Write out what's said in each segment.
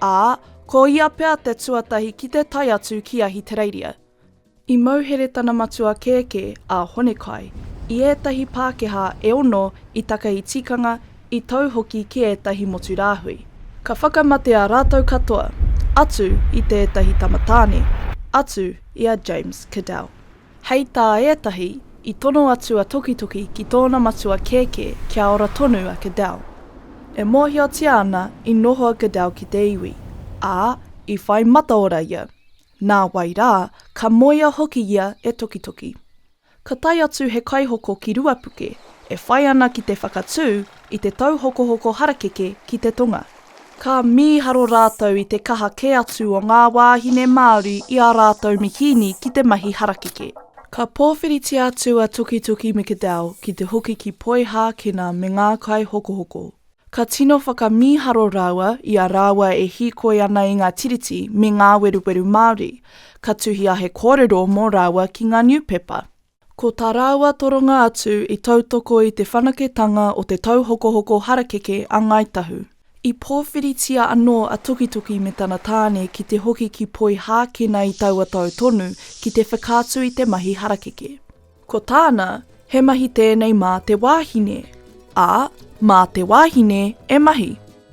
ā, ko ia pea te tuatahi ki te tae atu ki Ahitereiria. I mauhere tana matua kēkē, a Honekai, i ētahi Pākehā e ono i takahi tikanga, i tau hoki ki ētahi motu rāhui. Ka whakamatea rātou katoa, atu i te ētahi tamatāne, atu i a James Cadell. Hei tā ētahi, i tono atu a Tokitoki ki tōna matua kēkē kia ora tonu a Cadell. E mōhiotia ana i noho a Cadell ki te iwi, ā, i whai mataora ia. Nā wai rā, ka moea hoki ia e Tokitoki. Ka tae atu he kaihoko ki Ruapuke, e whai ana ki te whakatū i te tauhokohoko harakeke ki te tonga. Ka mīharo rātou i te kaha kē atu o ngā wāhine Māori i ā rātou mikīni ki te mahi harakeke. Ka pōwhiritia atu a Tukituki McAdell ki te hoki ki Poihākena me ngā kaihokohoko. Ka tino whakamīharo rāua i a rāua e hīkoi ana i ngā tiriti me ngā weruweru Māori. Ka tuhia he kōrero mō rāua ki ngā niupepa. Ko tā rāua toronga atu i tautoko i te whanaketanga o te tauhokohoko harakeke a Ngāi Tahu. I pōwhiritia anō a Tokitoki me tana tāne ki te hoki ki Poihākena i taua tau tonu ki te whakaatu i te mahi harakeke. Ko tāna, he mahi tēnei mā te wāhine, ā, mā te wāhine e mahi.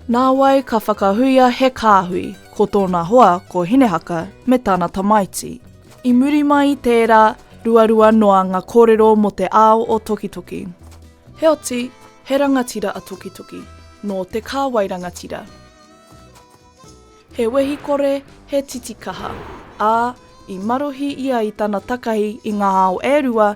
Nāwai ka whakahuia he kāhui, ko tōna hoa ko Hinehaka me tana tamaiti. I muri mai i tērā, ruarua noa ngā kōrero mō te ao o Tokitoki. Heoti, he rangatira a Tokitoki, nō te kāwai rangatira. He wehi kore, he titikaha, ā, i marohi ia i tana takahi i ngā ao e rua